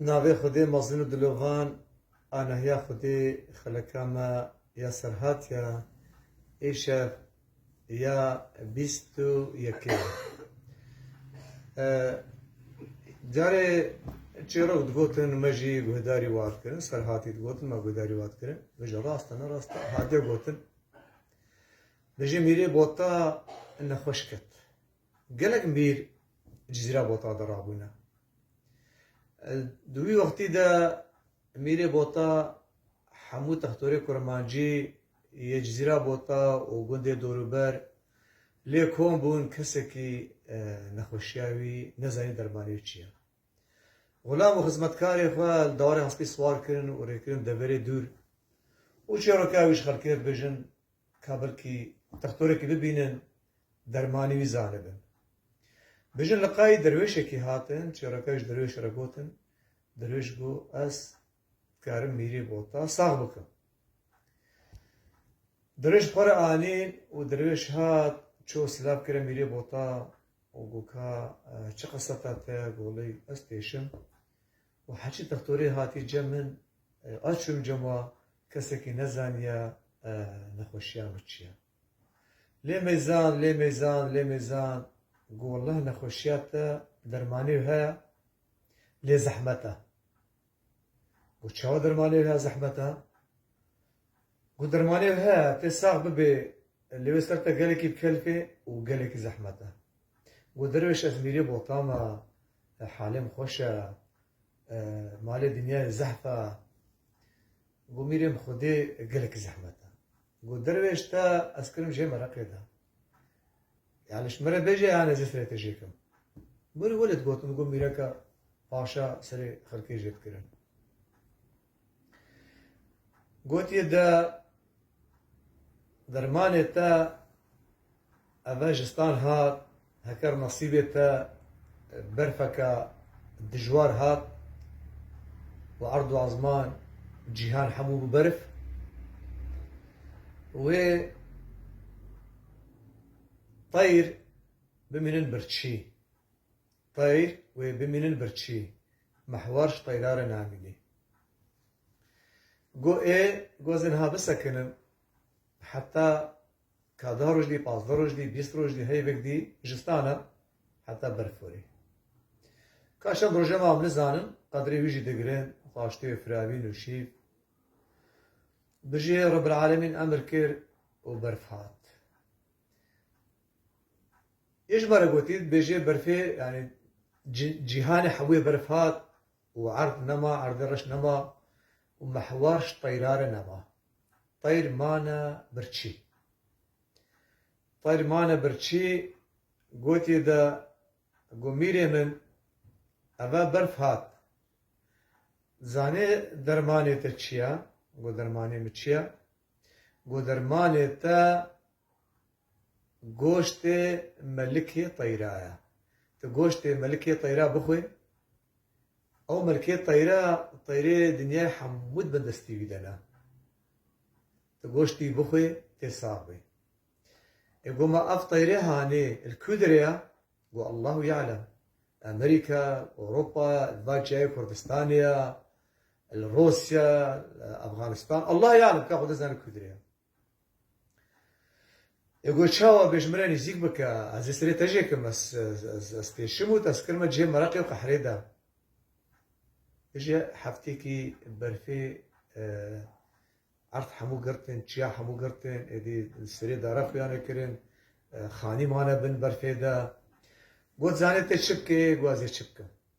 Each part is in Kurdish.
Navê Xwedê mezin û dilovan a Nehiya Xwedê xeleka me ya Serhat ya îşev ya bîst û yekê ye. Carê çêrok digotin me jî guhdarî wan kirin, Serhatî digotin me guhdarî wan kirin. Mijî rast e ne rast e hatiye gotin. Dijî mîrê bota nexweş ket. Gelek mîr Cizîra Bota de rabûne. Di wî wextî de Mîrê Bota hemû textorê kurmancî yê Cizîra Bota û gundê dorûber lê kom bûn kesekî nexweşiya wî nezanî dermanê çi ye. Xulam û xizmetkarê xwe li dawarê hespî siwar kirin û rêkirin deverê dûr û çêroka wî ji xelkê dibêjin Ka belkî dextorekî bibînin dermanî wî zanibin. Bijin li qayî derwêşekî hatin, çêreka ji derwêşê re gotin, derwêş got, ez dikarim mîrê bota sax bikim. Derwêş xwe re anîn û derwêş hat, çû silav kire mîrê bota û got, Ka çi qeseta te ye? Got, Lê ez têşim. Û Heçî Textorî hatî cem min a çûm cem wa kesekî nezaniya nexweşiya min çi ya. Lê me zan, lê me zan, lê me zan ku welleh nexweşiya te dermanê wî heye lê zehmet e. Ku çawa dermanê wî heye zehmet e? Ku dermanê ev heye tê sax bibê lê wê ser te gelekî bi kelp e û gelekî zehmet e. Ku derwêş ez mîrê botan a, halê min xweş e, malê dinyayê zehf e. Ku mîrê min xwedê gelekî zehmet e. Ku derwêş te ez kirim jê min reqê de. Ya leş min re bêje yan ez ê serê te jê kim. Min welêt gotin ku mîreke paşa serê xelkê jê dikirin. Gotiye de dermanê te eve ji stan hat, heker nasîbê te berfeke dijwar hat û erd û ezman cîhan hemû bû berf, wê teyr bimînin birçî. Teyr wê bimînin birçî. Mihwar ji teyra re namînî. Go ê gozê niha bisekinin. Heta ka deh roj dî, pazdeh roj dî, bîst roj dî, heyvek dî jistan e. Heta berf were. Ka çend roje mam nizanin, qedrê wî jî digirin, xwaştê wê firavîn û şîv. Bijî Rebîl Alemîn emir kir û berf hat. Yê ji barê gotî dibêjê berfê yanî cîhanê hewê berf hat û erd nema, erdê reş nema û mehwar ji teyra re nema. Teyr mane birçî. Teyr mane birçî gotî de got mîrê min eve berf hat. Dizanê dermanê te çi ye? Got dermanê min çi ye? Ku dermanê te goştê melikê teyra ye. Tu goştê melikê teyra bixwe, ew melikê teyra teyrê dinyayê hemû dibe destê wî de ne. Tu goştî bixwe tê sax bî. Ê ku ma ev teyrê hanê li ku dire ye? Ku Allahu ya'lem. Amerîka, Ewropa, li va çiyayê Kurdistanê ye, Li Rûsya, li Efganistan. Allah ya'lem ka xwe dê zane Kurd rê ya. Ê got çawa bêj min re nîzîk bike, ez ê serê te jê kim, ez têşim û te skir me cihê mereqê û qehrê de. Bije heftêkî berfê erd hemû girtin, çiya hemû girtin, êdî li serê dara xwe ya nekirin, xanî mane bin berfê de. Got zanê tê çi bike, ê got ez ê çi bikim.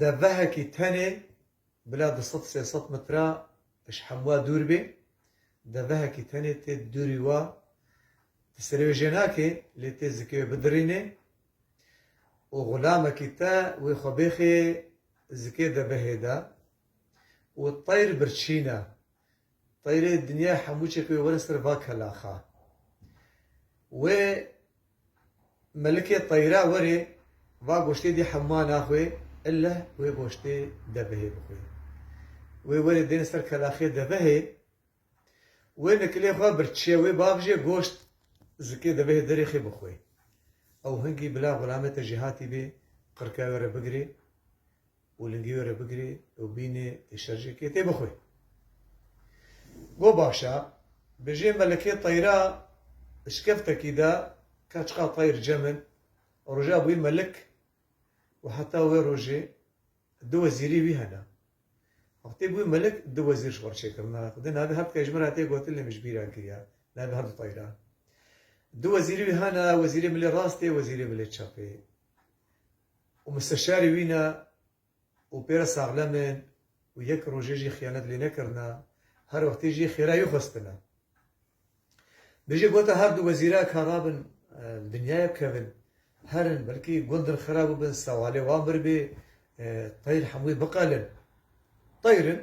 Devehekî tenê bila du sed sê sed metre ji hemûa dûr bê, devehekî tenê tê dûrî wa di serê wê jê nake lê tê zikê wê bidirîne û xulamekî te wê xwe bêxê zikê devehê de û teyr birçîne Tayrê dinyayê hemû çek wê were ser va kelaxa. Wê melikê tayra were va goştê dî hemûana xwe ille wê goştê devehê bixwe. Wê were dêne ser kelaxê devehê wê nikilê xwe bir çiye wê bavije goşt zikê devehê derê xê bixwe. Ew hingî bila xulamê te jî hatîbê qirkaya were bigirê û lingî were bigirê û bînê tê şerjekê tê bixwê. Go baş a, bijê me li kê teyra işkeftekî de ka çiqa teyr cem in, roja bûyî melik û heta wê rojê du wezîrî wî hene. Wextê bûyî melik du wezîr ji xwe re çêkirine. Xwedê navê her tika ji min re tê gotin lê min ji bîr re kiriye navê her du teyran. Du wezîrî wî hene, wezîrê milê rastê, wezîrê milê çepê. û misteşarî wî ne û pê re saxlem in û yek rojê jî xiyanet lê nekirine, her wextê jî xêra wî xwestine. Bêje gota her du wezîre ka rabin li dinyaya bikevin, herin, belkî gundin xera bibin, sewalê wan birbê, teyr hemûyê biqelin. Teyr in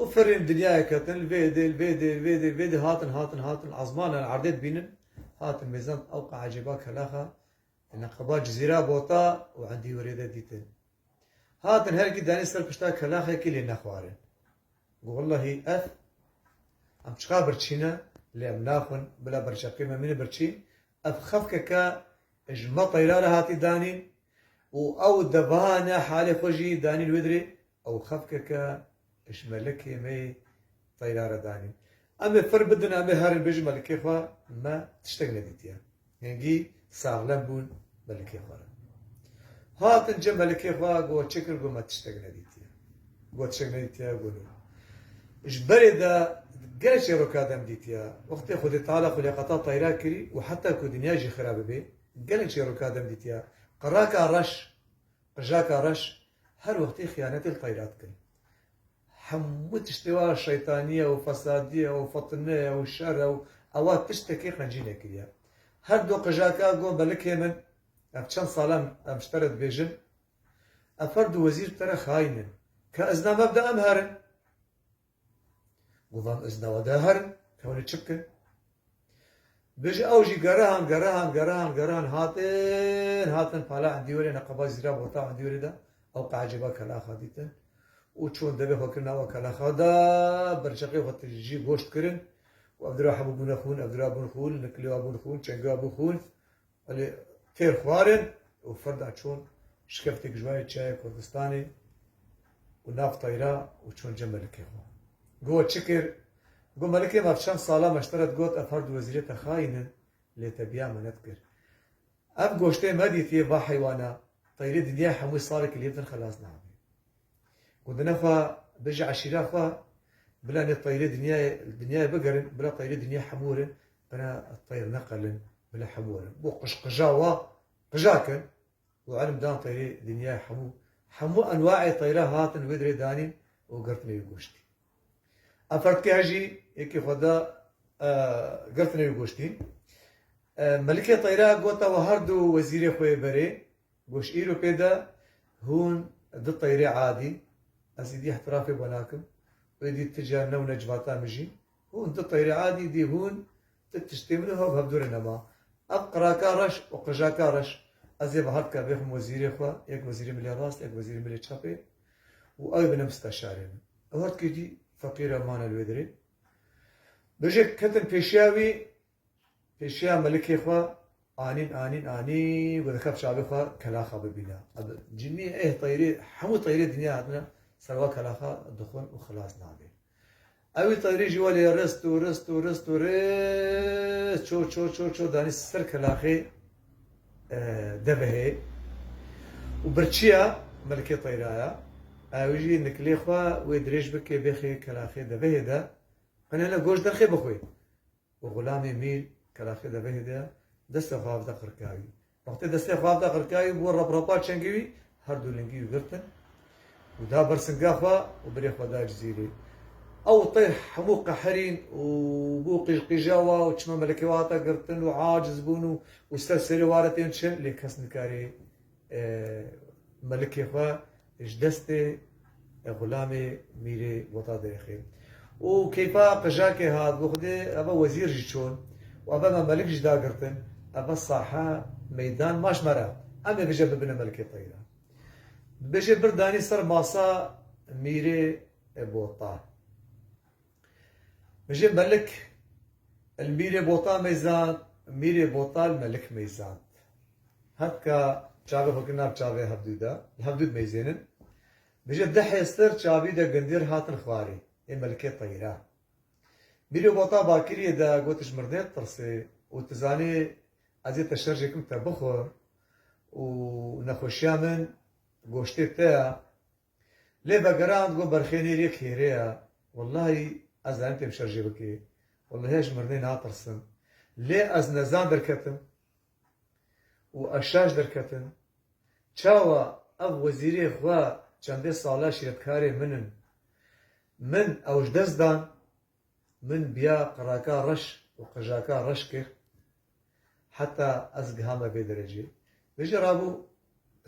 û firên li dinyaya ketin, li vê dê, li vê dê, li vê dê, li vê dê hatin, hatin, hatin, ezmana li erdê dibînin, hatin mêzan, tewqa ecêba kelaxa Hene qeba cizîra bota û endî were de dîtin. Hatin herkî danî ser pişta kelaxekî lê nexwarin. Got wellahî ev em çiqa birçîn e lê em naxwin bila berçeqê me mîne birçîn. Ev xefkeke ji me teyra re hatî danîn û ew deveha ne halê xwe jî danîn wê dirê Ew xefkeke ji melekê me yê teyra re danî. Em ê fir bidin, em ê herin bêjin melekê xwe me tiştek nedîtiye. Hingî saxlem bûn melekê xwe re. Hatin cem melekê xwe got çi kir got me tiştek nedîtiye. Got tiştek nedîtiye got nû. Ji berê de gelek çîroka dem dîtiye. Wextê Xwedê Teala xulîqeta teyra kirî û heta ku dinya jî xira bibê gelek çîroka dem dîtiye. Qiraka reş Qijaka reş her wextî xiyanetê li tayra dikin. Hemû tiştê wa şeytaniye û fesadiye û fitineye û şer e û ewa tiştekî qencî nekiriye. Her du qijaka got belikê min, ev çend sal em em ji te re dibêjin, ev her du wezîr bi te re xayîn in. Ka ez na mebda em herin. Govan ez dawa de herim, em hûn ê çi bikin? Bêje ew jî gerihan, gerihan, gerihan, gerihan hatin, hatin pala endî wêrê neqeba zîra bota endî wêrê de ew qeeceba kelaxa dîtin û çûn devê xwe kirin awa kelaxa de berçeqê xwe tijî goşt kirin û ev dira hebû bûne xûn, ev dira bûn xûn, niklewa bûn xûn, çengewa bû xûn, Elê têr xwarin û firda çûn şikeftêk ji wayê çiyayê Kurdistanê û nav tayra û çûn cem melikê xwe. Gowa çi kir? Go melikê ma çend sala me ji te re digot ev herdu wezîrê te xayîn in lê te biya me nedikir. Ev goştê me dîtiye va heywana tayrê dinyayê hemûyê salekî lêv din xelas nabe. Gundina xwe bêje eşîra xwe bila nê teyrê dinyayê li dinyayê bigerin bila teyrê dinya hemû werin bina teyr neqelin bila hemû werin bo qijqija wa qija kin û elm dan teyrê dinyayê hemû hemû enwaê teyra hatin wê dirê danîn û girtinê wî goştî em ferdikê her jî yekê xwe da girtinê wî goştî melikê teyra gota we her du wezîrê xwe yê berê Goş îro pê de hûn di teyrê adî, ez îdî îhtirafê bo nakim û îdî ti ca newne civata min jî, hûn di teyrê adî îdî hûn ti tiştê min û hev hevdûrê nema. Ev qiraka reş û qijaka reş ez ê veha bike bêxim wezîrê xwe, yek wezîrê milê rast, yek wezîrê milê çapê û ew ê bine misteşarê min. Ew her tikî jî feqîr e mane li wê derê. Bijî ketim pêşiya wî. Pêşiya melikê xwe anîn anîn anî ku dikef çavê xwe kelaxa bibîne. Ev cinî êh teyrê hemû teyrê dinya hatine ser wa kelaxa dixwin û xilas nabe. Ewî teyrê jî welê rist û rist û rist û rist çor çor çor çor danî ser kelaxê devehê û birçiya melikê teyra ya ew jî nikilê xwe wê dirêj bike bêxê kelaxê devehê de. Hine hine goş derxê bixwe. û Xulamê Mîr Kelaxê Devehê de destê xwe avêta qirkayî. Wextê destê xwe avêta qirkayî bû raprapa çengê wî, her du lingî wî girtin û da ber singa xwe û birê xwe da cizîrê. Ew teyr hemû qehirîn û bû qîjqîja we û çima melekê we hate girtin û aciz bûn û ser serê ware tên çin lê kes nikarê melikê xwe Ji destê Xulamê Mîrê Bota dirixe û keyfa qijakê hat bo xwedê eva wezîr jî çûn û eva me melik jî da girtin eva saha meydan maş me re em ê bije bibine melikê xwe înan. Bibêje bir danî ser masa Mîrê Bota. Bijî Melik il mîrê bota mêzand, mîrê bota il Melik mêzand. Hevka çavê xwe kir nav çavê hevdû de, li hevdû dimêzên in. Bijî di hêztir çavî de gundiyê re hatin xwarî, ê Melikê teyra. Mîrê bota bakiriyê de got ji mirdên tirsê û tu zanî ez ê te şerjê kim te bixwe û nexweşiya min goştê te ya Lê vegirand got berxênê yê kêrê ye wellahî ez em pê şer jê bikê wellahî ez ji mirinê natirsim lê ez nezan derketim û ez şaş derketim çawa ev wezîrê xwe çendê sale şîretkarê min in min ew ji dest dan Min biya qiraka reş û qijaka reş kir heta ez gihame vê derecê. Min jî rabû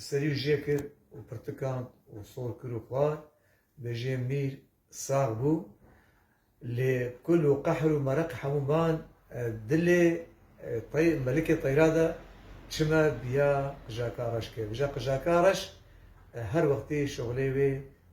serî û jê kir û pirtikand û sor kir û xwar. Bêjê Mîr sax bû. Lê kul û qehr û mereq hemû man dilê tey melikê teyra de çime biya qijaka reş kir. Bêje qijaka reş her wextî şoxlê wê